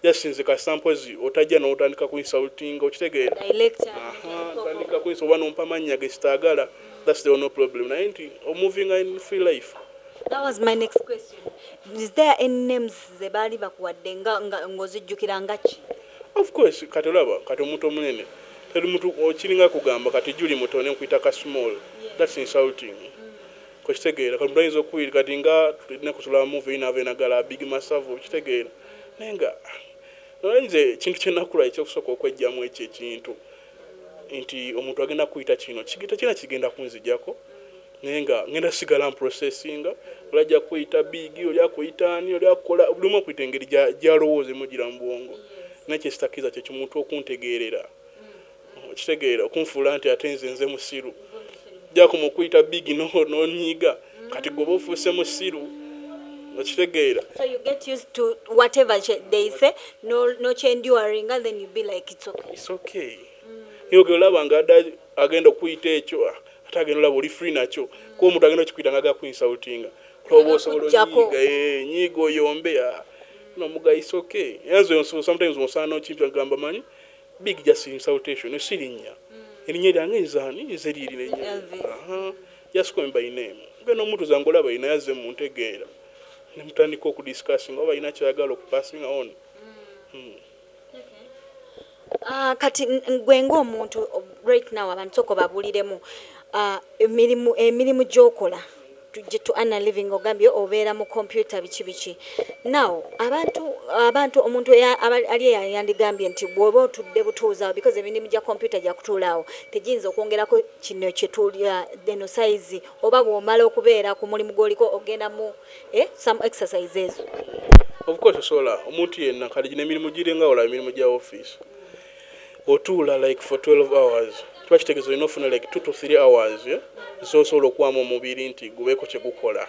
Just nze kasita mpozi otajja notandika ku insultinga okitegeera ahaa tandika ku insultinga oba nompa mannya gesitagala that's the only problem naye nti o movinga in free life. That was my next question is there any names zebaali bakuwadde nga nga nga ozijjukira nga ki? Of course kati olaba kati omuntu omunene teri muntu kiringa kugamba kati Julie Mutone nkuyita ka small that's insulting Okitegeera kati omuntu ayinza okuwulira kati nga tulina kusula movie yina ave nagala big masavu okitegeera naye nga naye nze ekintu kyenakula ekyokusooka okwejjamu ekyo ekintu nti omuntu agenda kuyita kino kigita tekirina kigenda kunzijako naye nga ngenda sigala mprocessinga oli ajja kuyita biigi oli akuyita ani oli akukola buli omu akuyita engeri gyalowooza emujira mu bwongo naye kyesitakiriza kyekimuntu okuntegeerera okitegeera okunfuula nti ate nze nze musiru jakuma okuyita big no nonyiiga kati gwoba ofuuse musiru okitegeera so you get used to whatever they say no no enduring and then you be like it's okay it's okay mm. niyo gelaba nga ada agenda okuyita ekyo ah, ate agenda olaba oli free nakyo mm. kuba omuntu agenda okikuyita nga agaku insultinga kuloba osobola onyiiga eh, nyiiga oyombe ah. no muga it's okay yanze sometimes osaana okimpi agamba manyi Big just insultation no silinya elinya lyange nze ani nze lyeli nenya aha just call me by name gwe nomutu zange olaba yena yaze muntegeera nemutandika oku discussing oba yina kyayagala oku passing on mm. Uh, kati gwe nga omuntu right now abantu soko babuliremu uh, ah, emirimu, emirimu gyokola tujje to earn a living ogambye obeera mu computer biki biki now abantu abantu omuntu ali yandigambye nti bwoba otudde butuuza awo because emirimu gya computer gya kutuula awo tegiyinza okwongerako kino kyetulya eno size oba bwomala okubeera ku mulimu gwoliko ogenda mu eh, some exercise ezo of course osobola omuntu yenna kati gino emirimu giringa olaba emirimu gya office Otuula like for twelve hours kiba kitegeza olina ofuna like two to three hours zosobola okuwamu omubiri nti gubeko kyegukola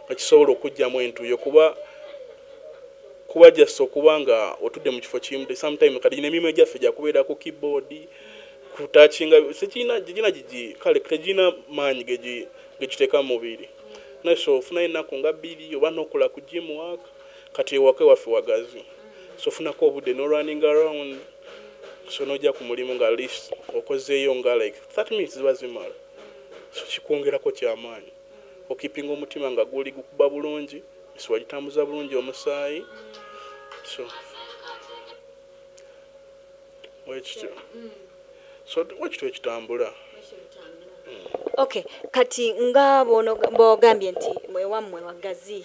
nga kisobola okujjamu entuyo kuba kuba just okuba nga otudde mu kifo kimu the same time kati nemirimu egyaffe gyakubeera ku keyboard kutakinga sekirina gigina gigi kale tegirina maanyi gegiteeka mu mubiri naye so ofunayo ennaku nga bbiri oba nokola ku gym work Kati ewaka ewaffe wagazi so funako obudde no running around so noja ku mulimu nga atleast okozeyo nga like thirty minutes ziba zimala so kikwongerako kyamaanyi okipinga omutima nga guli gukuba bulungi misuwa gitambuza bulungi omusaayi so bwekityo so bwekityo ekitambula. Okay kati nga bwogambye nti ewammwe wagazi.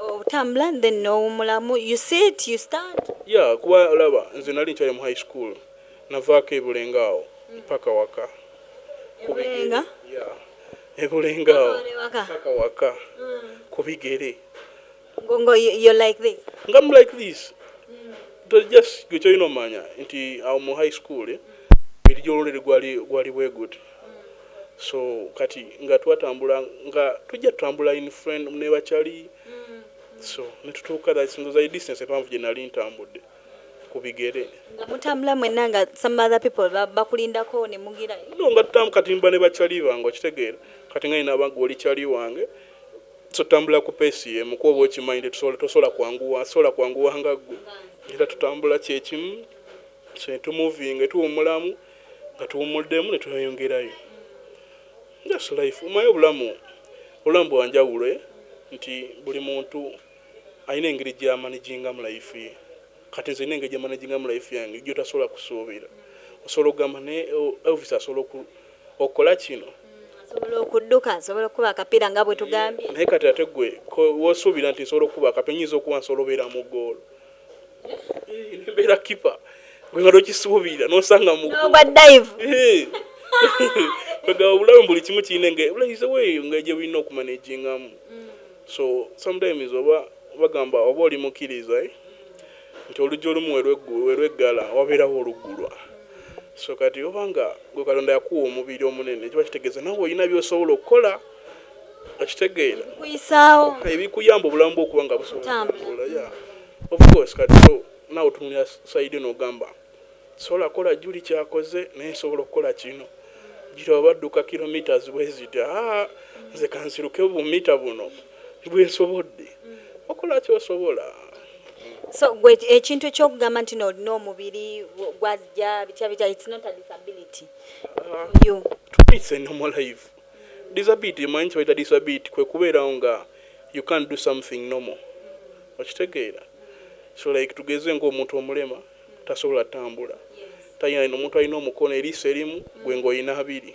otambula then nowumulamu you sit you stand. Yeah kuba olaba nze nali nkyali mu high school navaako e Bulenga awo mpaka waka Ebulenga yeah e Bulenga awo mpaka waka kubigere ngo ngo you're like this nga I'm like this mm. just gwe kyolina omanya nti awo mu high school eh, mubiri gyololere gwali gwali bweguti so kati nga twatambula nga tujja tutambula in friend ne bachali so ne tutuuka that single zai distance epanvu gye nali ntambudde ku bigere nga mutambula mwenna nga some other people bakulindako ne mugira no nga tutamu kati mba ne bachali bange okitegeera kati nga ina bangu oli chali wange so tambula ku pesi ye mu kuoba okimanyi nti tusobola tosobola kwanguwa sobola kwanguwa nga gwe era tutambula kyekimu so tumovinga tuwumulamu nga tuwummuddemu ne tweyongerayo just life omanyi obulamu obulamu bwa njawulo nti buli muntu alina engeri gya manijingamu life ye kati nze nina engeri gye manijingamu life yange gy'otasobola kusuubira osobola okugamba naye Elvis asobola okukola kino asobola okudduka asobola okukuba akapiira nga bwe tugambye naye kati ate gwe w'osuubira nti nsobola okukuba akapiira nnyinza okuba nsobola obeera mu ggoolo mbeera kipa gwe nga tokisuubira nosanga mugwa dive kwega obulamu buli kimu kirina engaize weeyo nga gye bulina okumanagingamu mm. so sometimes oba bagamba oba oli mukkiriza eh, nti oluggi olumu welweggala wabeerawo oluggulwa so kati obanga gwe katonda yakuwa omubiri omunene kiba kitegeeza nawe olina byosobola okukola okitegeera kuyisaawo ebikuyamba obulamu bwokuba nga busobola ofcourse kati nawe otunulira saidi nogamba sobola kola juli kyakoze naye nsobola okukola kino juli oba dduka kilometres bweziti aa nze kansiruke bumita buno bwensobodde okola kyosobola so gwe ekintu ekyokugamba nti nolina omubiri gwazja bitya bitya its not a disability ah, you twice in my life Disability omanyi kyebayita disability kwekubeerawo nga you can't do something normal okitegeera so like tugeze nga omuntu omulema tasobola tambula talina omuntu alina omukono eriiso erimu gwe nga olina abiri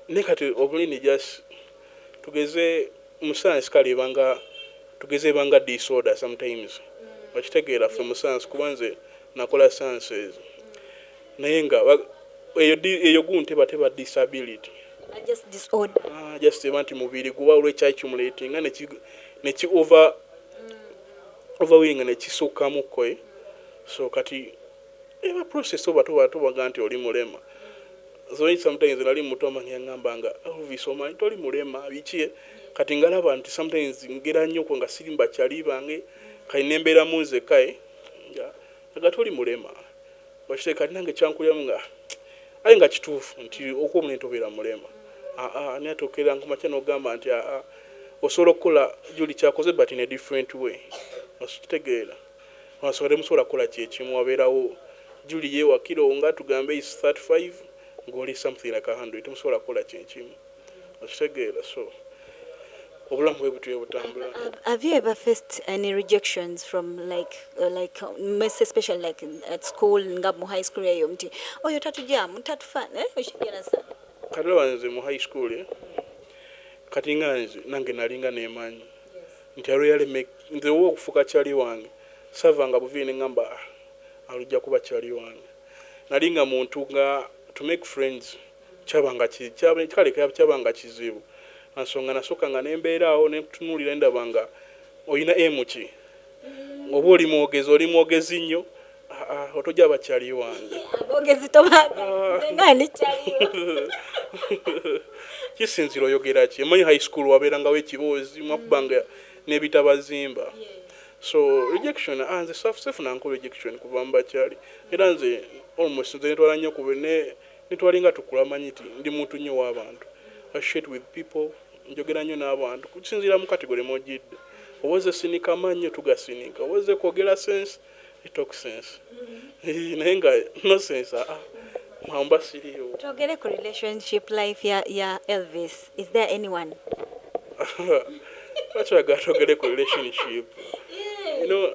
naye kati obulini just tugeze mu science kale ebanga tugeze ebanga disorder sometimes okitegeera ffe mu science kuba nze nakola sciences Naye nga eyo eyo gu nteba teba disability. Are just disorder. Ah, just eba nti mubiri guba olwe chai chumuleti nga neki neki over mm. over willing ne kisuka mukwe. Eh? So kati eba process oba tuba tuba ganti oli mulema. Mm. So sometimes nali muto mangi ngamba nga Elvis omanyi toli mulema bichi eh? kati ngalaba nti sometimes ngera nnyo ko nga sirimba chali bange mm. kali nembera munze kai. Eh? Nga toli mulema. Okireka nange kyankuliramu nga aye nga kituufu nti okuwa omunene tobeera mulema aa naye ate okeera kumakya nogamba nti aa osobola okukola juli kyakoze but in a different way okitegeera olwansonga temusobola kukola kyekimu wabeerawo juli yewakira owo nga tugambe is 35 nga oli something like 100 temusobola kukola kyekimu. okitegeera so obulamu bwebutyo bwebutambula. Have you ever faced any rejections from like uh, like um, especially like at school nga mu high school eyo mti oyo tatujamu tatufa eh oshigera sa kati wanze mu high school eh? kati nga nze nange nalinga nemanyi nti royal make nze wo okufuka chali wange sava nga buvine ngamba ah, alujja kuba chali wange nalinga muntu nga to make friends Kyabanga ki, kya, kale, kyabanga kizibu, lwa nsonga nasookanga ne mbeera awo ne nkutunuulira ne ndaba nga olina emu ki. Oba oli mwogezi, oli mwogezi nnyo. Ha, ha, otogyaba Charlie wange. Aboogezi tobaagala, Ah. nze nga ndi Charlie wo. Kisinziira oyogera ki. Omanyi high school wabeerangawo ekiboozi, mwakubanga n'ebitabazimba. So, rejection, ah, nze sa, sifunangako rejection kuva mu ba Charlie. Era nze, almost, nze netwala nnyo ku be, ne, Ne twalinga tukula manyi nti ndi muntu nnyo w'abantu, associate with people, njogera nnyo n'abantu kusinziira mu category mw'ojjidde. Oba ozze sinika mannyo, tugasinika. Oba ozze kwogera sense, you talk sense. Hee naye nga no sense haa awo mba siriiwo. Twogere ku relationship life ya ya Elvis, is there anyone? Lwaki oyagala twogere ku relationship? You know.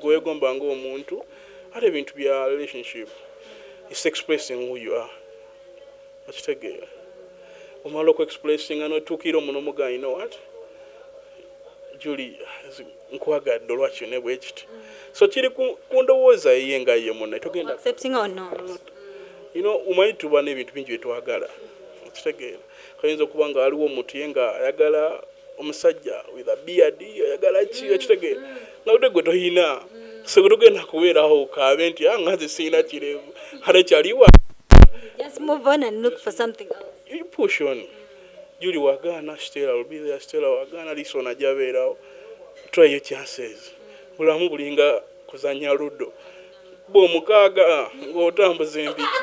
gwewegomba nga omuntu ate ebintu bya relationship is expressing who you are okitegeera omala oku expressinga notuukira omu nomugaa you know what Julie nkwagadde olwa kino ne bwe kiti so kiri ku ndowooza eye nga ye munne togenda omanyi tuba n'ebintu bingi bye twagala okitegeera Ayinza okuba nga waliwo omuntu ye nga ayagala omusajja with a beard ayagala ki mm, okitegeera mm. nga ate gwe toyina mm. so tugenda kubeerawo kaabe nti ah, nga nze sirina kirevu ate kyaliwa push on juli wagaana stela lubira stela wagaana lisona jabeerawo try your chances bulamu bulinga kuzanya ludo bwomukaaga ah, ng'otambuza empiki